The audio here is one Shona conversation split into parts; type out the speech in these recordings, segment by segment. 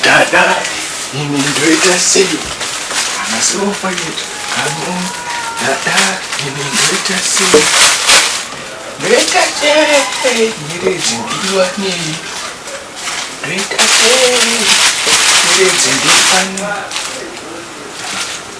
Dada, ini ndoita sei? Kana sirofa yetu, kano. Dada, ini ndoita sei? Ndoita sei? Nyeredzi ndiwa nei? Ndoita sei? Nyeredzi ndiwa nei?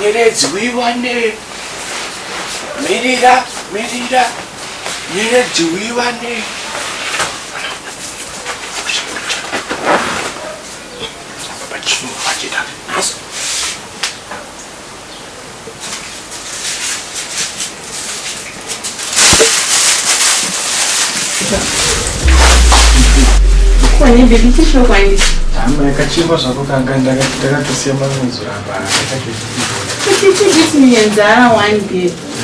Nyeredzi uiwane. Mirira, mirira. Nyeredzi uiwane. Pachinoachita. hama yakachekwa zvako kanga ndakatosiya manozura paa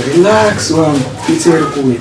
relax wangu pizza iri kuuya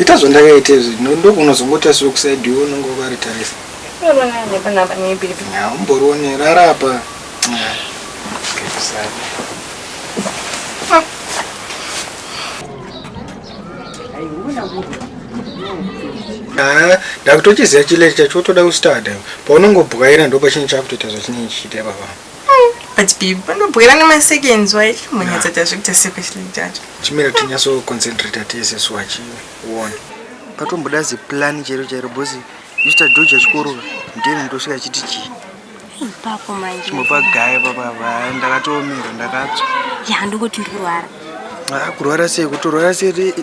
ita zvandakaita izvi ndokunozongoti asi wekusaidi iwe unenge wakaritarisa umborione rarapa ndakutochiziva chileti chacho wotoda kustada paunongobwaira ndo pachinhu chakutoita zvachinenge chichiita ipapa but babe vanobwera nemaseconds wai monyatsa tazvikuita sekwehle jacho chimira tinyaso concentrate tese so achiona patomboda ziplani chero chairo bosi mr george achikorora ndiyeni ndosvika achiti chii ipapo manje chimwe pagaya papava ndakatoomira ndakatswa ya ndongoti ndirwara ah, kurwara sei kutorwara sei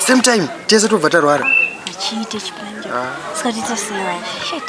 same time tese tobva tarwara achiite chipanje ah. sikatita sei manje shit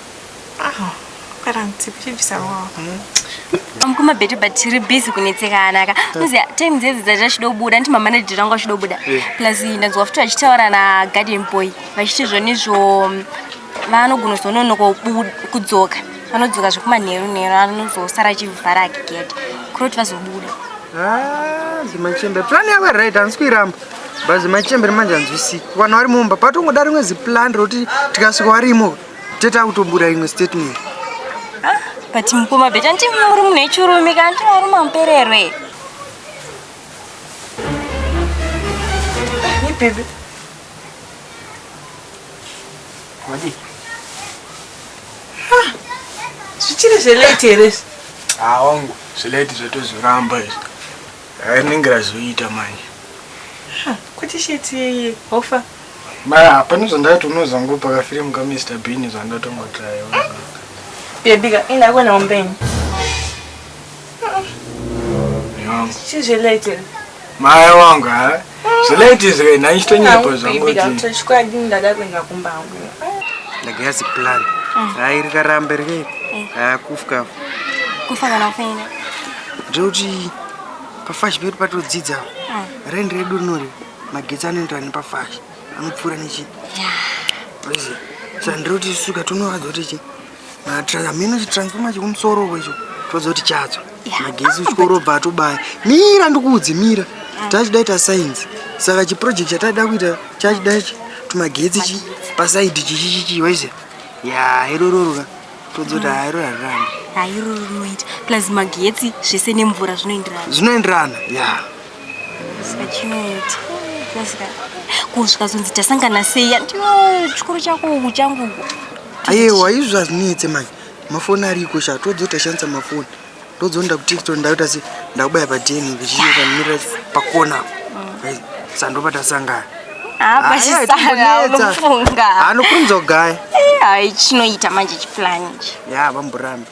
amukuma betu but tiri busy kunetsekana ka muziva time dzedzi dzati achida kubuda nditi mamanage rangu achida kubuda eh. plus ndanzwa futi vachitaura nagarden boy vachiti zvonizvo mm, vanogona zononoka kudzoka vanodzoka zvekumanheru nheru anozosara achivhara ake gate kuroti vazobuda ah, zimachembe plan yavo right handisi kuiramba but zimachembe remanje hanzwisiki vanhu vari mumba patongoda rimwe ziplan rekuti tikasvika varimo Tete akutobuda imwe statement. Ah, but mukoma beta ndimi muri munhu wechirume kana ndimi muri mamupererwe. Ipipi. Wadi. Ah, zvichiri zvelate here izvi? Ah, wangu zvelate zvatozoramba izvi. Rinenge razoita manje. Kuti sheti hofa. Ma pane zvandatono zvangu paka film ka Mr Bean zvandatongo try. Baby ka ina kona umbeni. Chizvi late. Maya wangu ha. Eh? Zvilaiti zvika ina ichito nyepo zvangu kuti. Baby ka chikwadi ndada kuenda kumba hangu. Ndagazi plan. Mm. Hai rikarambe rike. Mm. Ah kufka. Kufa kana kufenda. Jodi pafashi pedu patodzidza. Mm. Rendi redu rinori. magetsi anoendera nepafashi anopfuura nechi poison saka ndiri kuti suka tonovadzo kuti chi hameno chitransfoma chekumusoro uko icho tovadzo kuti chatsva magetsi uchikorobva atobaya mira ndikuudze mira tachidaita science saka chiproject chataida kuita chachida chi tumagetsi chi pasaidi chichichichi waize ya irororoka todzoti hairo hariramba hairororoita plus magetsi zvese nemvura zvinoenderana zvinoenderana ya yeah. Sachimiti. Kusvika. Kusvika zonzi tasangana sei andiwo chikuru chako uku changu uku. Ayewa izvi hazvinetse manje. Mafoni ariko sha todzo tashandisa mafoni. Todzonda ku TikTok ndaita se ndakubaya pa DNA kuchiyo kanimira pakona. Mm. Sandopa tasangana. Ah, basi sana unofunga. Anokunzogaya. Eh, chinoita manje chiplan ichi. Ya, bamburambi.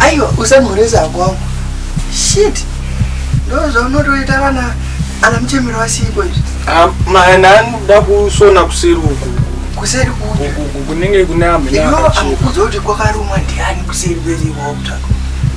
aiwa usanhoresa ako wangu shit ndo zvaunotoita vana ana muchemero vasiiko izvi Ah, mana anoda kusona kuseri uku kuseri kupi Uku- uku kunenge kune amhene iyo akachekwa amukudza kuti kwakarumwa ndiani kuseri kwese kwakutsvaka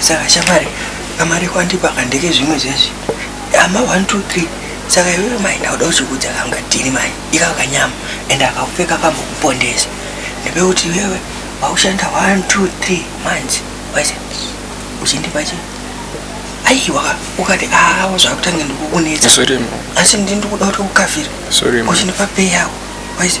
saka shamwari amari kwandipa kandeke zvimwe zvezvi ama 1 2 3 saka iwewe mai ndauda uchikudza kangatini mai ikako kanyama ende akakupfeka kambokupondesa ndepekuti iwewe waushanda 1 2 3 manzi waise uchindipa chii aiwa ukati awo ah, zvakutange ndikukunetsa asi ndindikuda kuti ukavhira uchindipa pei yako waise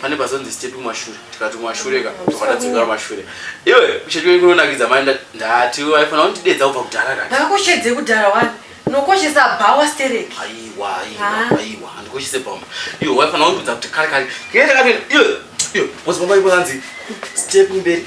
pane pazonzi step kumashure tikati kumashure ka tokatadzokera kumashure iwe kushedwe kunonakidza mai ndati waifana kundidedza kubva kudhara ka ndakushedze kudhara wani nokoshesa bhawa stereki aiwa aiwa aiwa handikoshese bhawa iwe waifana kundidza kuti kare kare kee takapinda iwe iwe wozobaba iwe anzi step mberi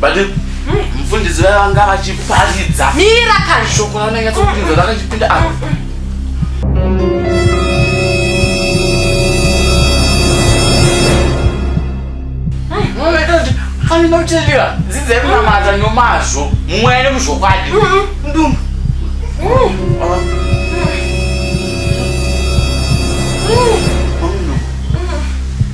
but mm, mfundisi vaya vanga vachiparidza mira kashoko raunenge tsopinza rakachipinda apa anoteliwa dzidza yekunamata nomazvo mweya nemuzvokwadi ndumbu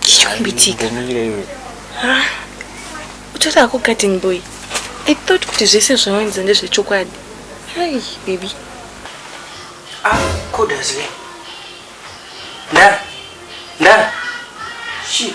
chichikumbitika ah, utori ako garden boy i thought kuti zvese zvawanza ndezvechokwadi hai baby ah, kodazive ndara ndara shit